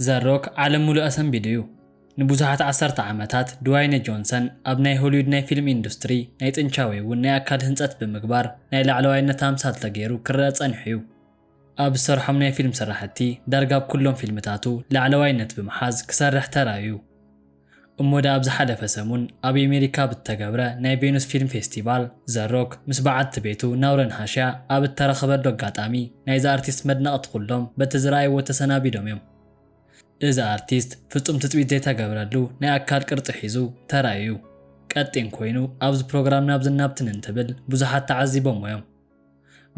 ዘ-ሮክ ዓለም ምሉእ ኣሰንቢዱ'ዩ። ንብዙሓት ዓሰርተ ዓመታት ድዋይነ ጆንሰን ኣብ ናይ ሆሊውድ ናይ ፊልም ኢንዱስትሪ ናይ ጥንቻ ወይ'ውን ናይ ኣካል ህንጸት ብምግባር ናይ ላዕለዋይነት ኣምሳል ተገይሩ ክረኣ ጸኒሑ'ዩ። ኣብ ዝሰርሖም ናይ ፊልም ስራሕቲ ዳርጋ ኣብ ኩሎም ፊልምታቱ ላዕለዋይነት ብምሓዝ ክሰርሕ ተራእዩ። እሞ ድኣ ኣብ ዝሓለፈ ሰሙን ኣብ የሜሪካ ኣብ እተገብረ ናይ ቬኑስ ፊልም ፌስቲቫል ዘ ሮክ ምስ በዓልቲ ቤቱ ናውረን ሃሽያ ኣብ እተረኸበሉ ኣጋጣሚ ናይዚ ኣርቲስት መድነቕቲ ኩሎም በቲ ዝረኣይዎ ተሰናቢዶም እዮም። እዚ ኣርቲስት ፍጹም ትጽቢት ዘይተገብረሉ ናይ ኣካል ቅርጺ ሒዙ ተራእዩ እዩ። ቀጢን ኮይኑ ኣብዚ ፕሮግራም ናብዝን ናብትን እንትብል ብዙሓት ተዓዚቦሞ እዮም።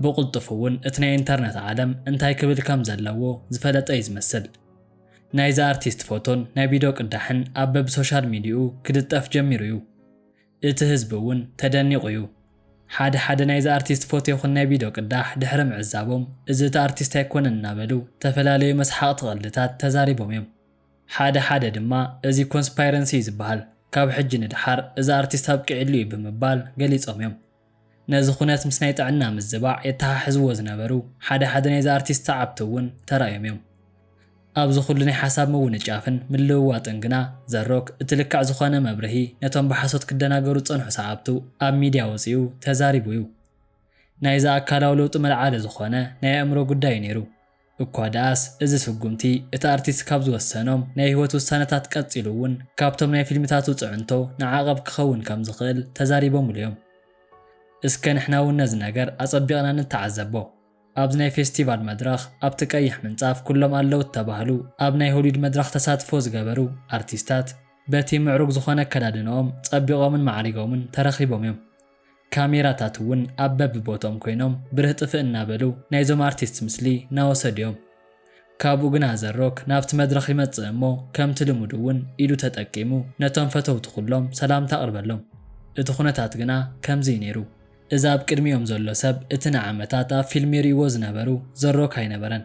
ብቕልጡፍ እውን እቲ ናይ ኢንተርነት ዓለም እንታይ ክብል ከም ዘለዎ ዝፈለጠ እዩ ዝመስል። ናይዛ ኣርቲስት ፎቶን ናይ ቪድዮ ቅዳሕን ኣብ በብሶሻል ሚድይኡ ክልጠፍ ጀሚሩ እዩ። እቲ ህዝቢ እውን ተደኒቑ እዩ። ሓደ ሓደ ናይዛ ኣርቲስት ፎቶ ይኹን ናይ ቪድዮ ቅዳሕ ድሕሪ ምዕዛቦም እዚ እቲ ኣርቲስት ኣይኮነን እናበሉ ተፈላለዩ መስሓቕቲ ቐልድታት ተዛሪቦም እዮም። ሓደ ሓደ ድማ እዚ ኮንስፓይረንሲ እዩ ዝበሃል ካብ ሕጂ ንደሓር እዚ ኣርቲስት ኣብቂዕሉ እዩ ብምባል ገሊፆም እዮም። ነዚ ኩነት ምስ ናይ ጥዕና ምዝባዕ የተሓሕዝዎ ዝነበሩ ሓደ ሓደ ናይዚ ኣርቲስት ሰዓብቲ እውን ተራእዮም እዮም። ኣብዚ ኩሉ ናይ ሓሳብ ምውንጫፍን ምልውዋጥን ግና ዘ-ሮክ እቲ ልክዕ ዝኾነ መብርሂ ነቶም ብሓሶት ክደናገሩ ዝጸንሑ ሰዓብቱ ኣብ ሚድያ ኣውጺኡ ተዛሪቡ እዩ። ናይዚ ኣካላዊ ለውጢ መልዓሊ ዝኾነ ናይ ኣእምሮ ጉዳይ እዩ ነይሩ። እኳ ደኣስ እዚ ስጉምቲ እቲ ኣርቲስት ካብ ዝወሰኖም ናይ ህይወት ውሳነታት ቀጺሉ እውን ካብቶም ናይ ፊልምታቱ ጽዕንቶ ንዓቐብ ክኸውን ከም ዝኽእል ተዛሪቦምሉ እዮም። እስከ ንሕና እውን ነዚ ነገር ኣጸቢቕና ንተዓዘቦ። ኣብዚ ናይ ፌስቲቫል መድረኽ ኣብቲ ቀይሕ ምንጻፍ ኩሎም ኣለዉ እተባህሉ ኣብ ናይ ሆሊውድ መድረኽ ተሳትፎ ዝገበሩ ኣርቲስታት በቲ ምዕሩግ ዝኾነ ኣከዳድንኦም ጸቢቖምን ማዕሪጎምን ተረኺቦም እዮም። ካሜራታት እውን ኣብ በብቦትኦም ኮይኖም ብርህ ጥፍእ እናበሉ ናይዞም ኣርቲስትስ ምስሊ ናወሰዱ እዮም። ካብኡ ግና ኣዘሮክ ናብቲ መድረኽ ይመጽእ እሞ ከምቲ ልሙድ እውን ኢዱ ተጠቂሙ ነቶም ፈተውቱ ኩሎም ሰላምታ ኣቕርበሎም። እቲ ኩነታት ግና ከምዚ እዩ ነይሩ። እዚ ኣብ ቅድሚኦም ዘሎ ሰብ እቲ ንዓመታት ኣብ ፊልሚ ይርእይዎ ዝነበሩ ዘሮክ ኣይነበረን።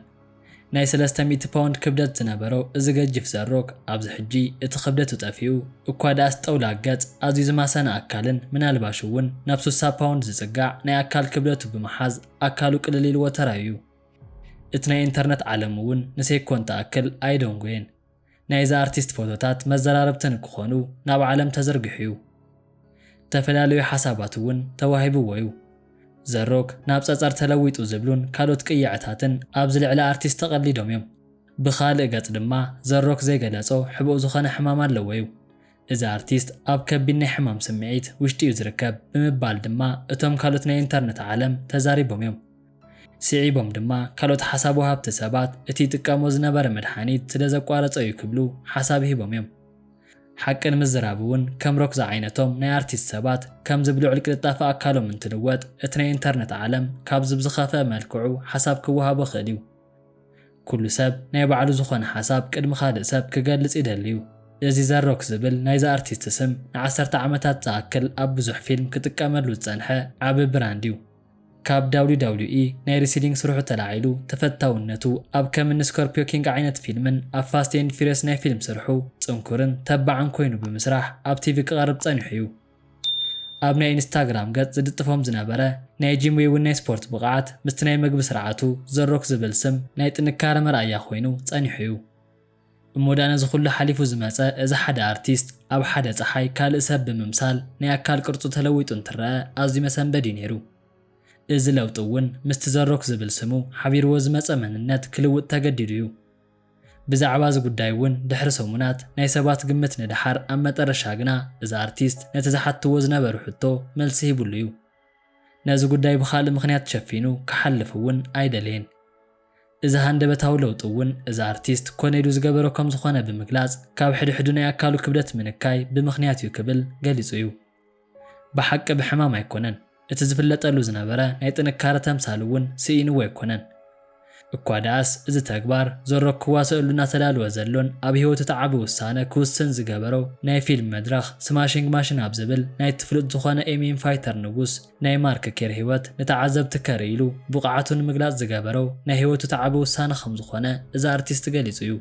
ናይ ሰለስተ ሚእቲ ፓውንድ ክብደት ዝነበሮ እዚ ገጂፍ ዘ-ሮክ፣ ኣብዚ ሕጂ እቲ ክብደቱ ጠፊኡ፣ እኳ ደኣስ ጠውላግ ገጽ፣ ኣዝዩ ዝማሰነ ኣካልን ምናልባሽ'ውን ናብ ሱሳ ፓውንድ ዝጽጋዕ ናይ ኣካል ክብደቱ ብምሓዝ ኣካሉ ቅልል ኢልዎ ተራእዩ። እቲ ናይ ኢንተርነት ዓለም'ውን ንሴኮንድ ትኣክል ኣይደንጎየን። ናይዛ ኣርቲስት ፎቶታት መዘራረብቲ ንክኾኑ ናብ ዓለም ተዘርጊሑ'ዩ። እተፈላለዩ ሓሳባት'ውን ተዋሂብዎ'ዩ። ዘሮክ ናብ ጸጸር ተለዊጡ ዝብሉን ካልኦት ቅይዐታትን ኣብዚ ልዕሊ ኣርቲስት ተቐሊዶም'ዮም። ብኻልእ ገጽ ድማ ዘሮክ ዘይገለጾ ሕቡእ ዝኾነ ሕማም ኣለዎ'ዩ። እዚ ኣርቲስት ኣብ ከቢድ ናይ ሕማም ስምዒት ውሽጢ'ዩ ዝርከብ ብምባል ድማ እቶም ካልኦት ናይ ኢንተርነት ዓለም ተዛሪቦም'ዮም። ስዒቦም ድማ ካልኦት ሓሳብ ወሃብቲ ሰባት እቲ ይጥቀሞ ዝነበረ መድሓኒት ስለ ዘቋረጾ እዩ ክብሉ ሓሳብ ሂቦም እዮም። ሓቂ ንምዝራብ እውን ከም ሮክ ዝዓይነቶም ናይ ኣርቲስት ሰባት ከምዚ ብልዑል ቅልጣፈ ኣካሎም እንትልወጥ እቲ ናይ ኢንተርነት ዓለም ካብዚ ብዝኸፍኣ መልክዑ ሓሳብ ክወሃቦ ክእል እዩ። ኩሉ ሰብ ናይ ባዕሉ ዝኾነ ሓሳብ ቅድሚ ካልእ ሰብ ክገልጽ ይደሊ እዩ። እዚ ዘ ሮክ ዝብል ናይዚ ኣርቲስት ስም ንዓሰርተ ዓመታት ዝኣክል ኣብ ብዙሕ ፊልም ክጥቀመሉ ዝጸንሐ ዓቢ ብራንድ እዩ። ካብ WWE ናይ ሪሲሊንግ ስርሑ ተላዒሉ ተፈታውነቱ ኣብ ከም እኒ ስኮርፒዮ ኪንግ ዓይነት ፊልምን ኣብ ፋስት ኤንድ ፊሪየስ ናይ ፊልም ስርሑ ጽንኩርን ተባዕን ኮይኑ ብምስራሕ ኣብ ቲቪ ክቐርብ ጸኒሑ እዩ። ኣብ ናይ ኢንስታግራም ገጽ ዝልጥፎም ዝነበረ ናይ ጂም ወይ'ውን ናይ ስፖርት ብቕዓት ምስቲ ናይ መግቢ ስርዓቱ ዘ ሮክ ዝብል ስም ናይ ጥንካረ መርኣያ ኮይኑ ጸኒሑ እዩ። እሞ ድኣ ነዚ ኩሉ ሓሊፉ ዝመጸ እዚ ሓደ ኣርቲስት ኣብ ሓደ ጸሓይ ካልእ ሰብ ብምምሳል ናይ ኣካል ቅርጹ ተለዊጡ እንትረኣ ኣዝዩ መሰንበዲ'ዩ ነይሩ። እዚ ለውጢ'ውን ምስቲ ዘሮክ ዝብል ስሙ ሓቢርዎ ዝመጸ መንነት ክልውጥ ተገዲዱ'ዩ። ብዛዕባ እዚ ጉዳይ'ውን ድሕሪ ሰሙናት ናይ ሰባት ግምት ንደሓር ኣብ መጠረሻ ግና እዚ ኣርቲስት ነቲ ዝሓትትዎ ዝነበሩ ሕቶ መልሲ ሂብሉ'ዩ። ነዚ ጉዳይ ብኻልእ ምኽንያት ሸፊኑ ክሓልፍ'ውን ኣይደለየን። እዚ ሃንደበታዊ ለውጢ እውን እዚ ኣርቲስት ኮነ ኢሉ ዝገበሮ ከም ዝኾነ ብምግላጽ ካብ ሕድሕዱ ናይ ኣካሉ ክብደት ምንካይ ብምኽንያት እዩ ክብል ገሊጹ እዩ። ብሓቂ ብሕማም ኣይኮነን እቲ ዝፍለጠሉ ዝነበረ ናይ ጥንካረ ተምሳል እውን ስኢንዎ ኣይኮነን እኳ ደኣስ እዚ ተግባር ዞሮ ክዋሰእሉ እናተዳለወ ዘሎን ኣብ ህይወቱ እቲ ዓቢ ውሳነ ክውስን ዝገበሮ ናይ ፊልም መድረኽ ስማሺንግ ማሽን ኣብ ዝብል ናይቲ ፍሉጥ ዝኾነ ኤሚይን ፋይተር ንጉስ ናይ ማርክ ኬር ህይወት ንተዓዘብቲ ከርኢ ኢሉ ብቕዓቱ ንምግላጽ ዝገበሮ ናይ ህይወቱ ተዓቢ ውሳነ ከም ዝኾነ እዚ ኣርቲስት ገሊጹ እዩ።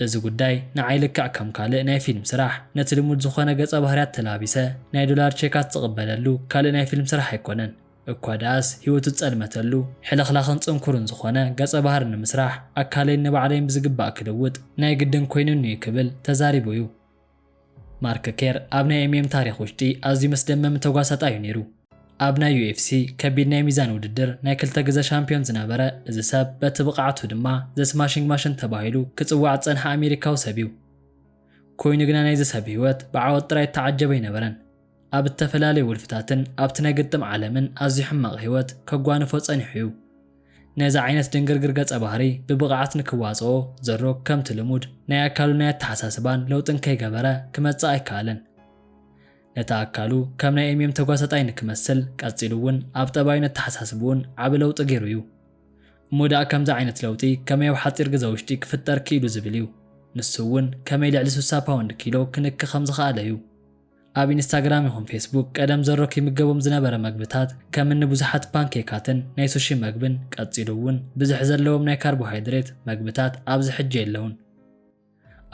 እዚ ጉዳይ ንዓይ ልክዕ ከም ካልእ ናይ ፊልም ስራሕ ነቲ ልሙድ ዝኾነ ገጸ ባህርያት ተላቢሰ ናይ ዶላር ቼካት ዝቕበለሉ ካልእ ናይ ፊልም ስራሕ ኣይኮነን። እኳ ደኣስ ህይወቱ ዝጸልመተሉ ሕልኽላኽን ጽንኩርን ዝኾነ ገጸ ባህሪ ንምስራሕ ኣካለይን ንባዕለይን ብዝግባእ ክልውጥ ናይ ግድን ኮይኑኒ እዩ ክብል ተዛሪቡ እዩ። ማርክ ኬር ኣብ ናይ ኤምኤም ታሪኽ ውሽጢ ኣዝዩ መስደመሚ ተጓሳጣይ እዩ ነይሩ። ኣብ ናይ ዩኤፍሲ ከቢድ ናይ ሚዛን ውድድር ናይ ክልተ ግዘ ሻምፒዮን ዝነበረ እዚ ሰብ በቲ ብቕዓቱ ድማ ዘ ስማሺንግ ማሽን ተባሂሉ ክፅዋዕ ዝፀንሐ ኣሜሪካዊ ሰብ እዩ። ኮይኑ ግና ናይዚ ሰብ ህይወት ብዓወት ጥራይ እተዓጀበ ኣይነበረን። ኣብ እተፈላለየ ውልፍታትን ኣብቲ ናይ ግጥም ዓለምን ኣዝዩ ሕማቕ ህይወት ከጓንፎ ጸኒሑ እዩ። ነዚ ዓይነት ድንግርግር ገጸ-ባህሪ ብብቕዓት ንክዋጽኦ ዘ-ሮክ ከምቲ ልሙድ ናይ ኣካሉን ናይ ኣተሓሳስባን ለውጢ እንከይገበረ ክመጽእ ኣይከኣለን። ነቲ ኣካሉ ከም ናይ ኤምየም ተጓሳጣይ ንክመስል ቀጺሉ እውን ኣብ ጠባዩን ኣተሓሳስባኡን ዓቢ ለውጢ ገይሩ እዩ። እሞ ደኣ ከምዚ ዓይነት ለውጢ ከመይ ኣብ ሓጺር ግዘ ውሽጢ ክፍጠር ክኢሉ ዝብል እዩ። ንሱ እውን ከመይ ልዕሊ ስሳ ፓውንድ፣ ኪሎ፣ ክንኪ ከም ዝኸኣለ እዩ። ኣብ ኢንስታግራም ይኹን ፌስቡክ ቀደም ዘሮ ኪምገቦም ዝነበረ መግብታት ከም እኒ ብዙሓት ፓንኬካትን ናይ ሱሺ መግብን ቀጺሉ እውን ብዝሒ ዘለዎም ናይ ካርቦሃይድሬት መግብታት ኣብዚ ሕጂ የለዉን።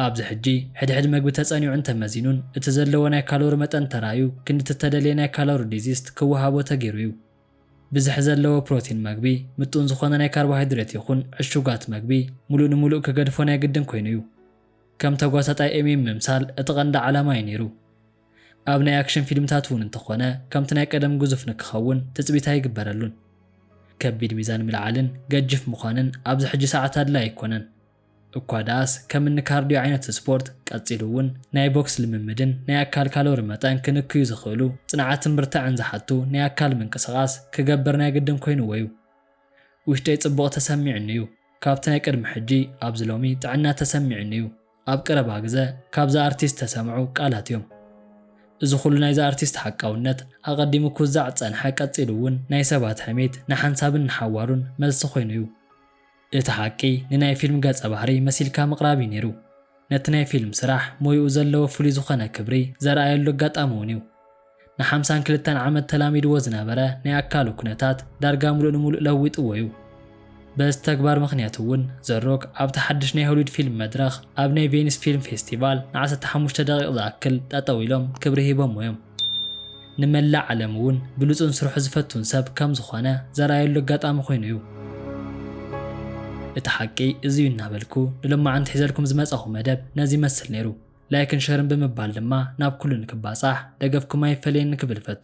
ኣብዚ ሕጂ ሕድሕድ መግቢ ተጸኒዑን ተመዚኑን እቲ ዘለዎ ናይ ካሎሪ መጠን ተራእዩ ክንዲ እቲ እተደልየ ናይ ካሎሪ ዲዚስት ክወሃቦ ተገይሩ እዩ። ብዝሒ ዘለዎ ፕሮቲን መግቢ ምጡን ዝኾነ ናይ ካርቦሃይድሬት ይኹን ዕሹጋት መግቢ ምሉእ ንምሉእ ክገድፎ ናይ ግድን ኮይኑ እዩ። ከም ተጓሳጣይ ኤሚም ምምሳል እቲ ቀንዲ ዓላማ'ዩ ነይሩ። ኣብ ናይ ኣክሽን ፊልምታት እውን እንተኾነ ከምቲ ናይ ቀደም ግዙፍ ንክኸውን ትጽቢት ኣይግበረሉን። ከቢድ ሚዛን ምልዓልን ገጂፍ ምዃንን ኣብዚ ሕጂ ሰዓት ኣድላይ ኣይኮነን። እኳ ደኣስ ከም እኒ ካርድዮ ዓይነት ስፖርት፣ ቀጺሉ እውን ናይ ቦክስ ልምምድን ናይ ኣካል ካሎሪ መጠን ክንክዩ ዝኽእሉ ጽንዓትን ብርታዐን ዝሓቱ ናይ ኣካል ምንቅስቓስ ክገብር ናይ ግድን ኮይኑዎ'ዩ። ውሽጠይ ጽቡቕ ተሰሚዑኒ እዩ ካብቲ ናይ ቅድሚ ሕጂ ኣብዚ ሎሚ ጥዕና ተሰሚዑኒ እዩ ኣብ ቀረባ ግዘ ካብዛ ኣርቲስት ዝተሰምዑ ቃላት እዮም እዚ ኩሉ ናይዛ ኣርቲስት ሓቃውነት ኣቐዲሙ ክውዛዕ ዝጸንሐ ቀጺሉ እውን ናይ ሰባት ሕሜት ንሓንሳብን ንሓዋሩን መልሲ ኮይኑ እዩ እቲ ሓቂ ንናይ ፊልም ገጸ ባህሪ መሲልካ ምቕራብ እዩ ነይሩ ነቲ ናይ ፊልም ስራሕ ሞይኡ ዘለዎ ፍሉይ ዝኾነ ክብሪ ዘርኣየሉ ኣጋጣሚ እውን እዩ። ንሓምሳን ክልተን ዓመት ተላሚድዎ ዝነበረ ናይ ኣካሉ ኩነታት ዳርጋ ምሉእ ንምሉእ ለዊጥዎ'ዩ። በዚ ተግባር ምኽንያት'ውን ዘ ሮክ ኣብቲ ሓድሽ ናይ ሆሊውድ ፊልም መድረኽ ኣብ ናይ ቬኒስ ፊልም ፌስቲቫል ንዓሰርተ ሓሙሽተ ደቒቕ ዝኣክል ጠጠው ኢሎም ክብሪ ሂቦሞ'ዮም። ንመላእ ዓለም'ውን ብሉጽን ስርሑ ዝፈቱን ሰብ ከም ዝኾነ ዘርኣየሉ ኣጋጣሚ ኮይኑ'ዩ። እቲ ሓቂ እዚ'ዩ እናበልኩ ንሎማዓንቲ ሒዘልኩም ዝመጻኹ መደብ ነዚ ይመስል ነይሩ። ላይክን ሸርን ብምባል ድማ ናብ ኩሉ ንክባጻሕ ደገፍኩም ኣይፈለየኒ ክብል እፈቱ።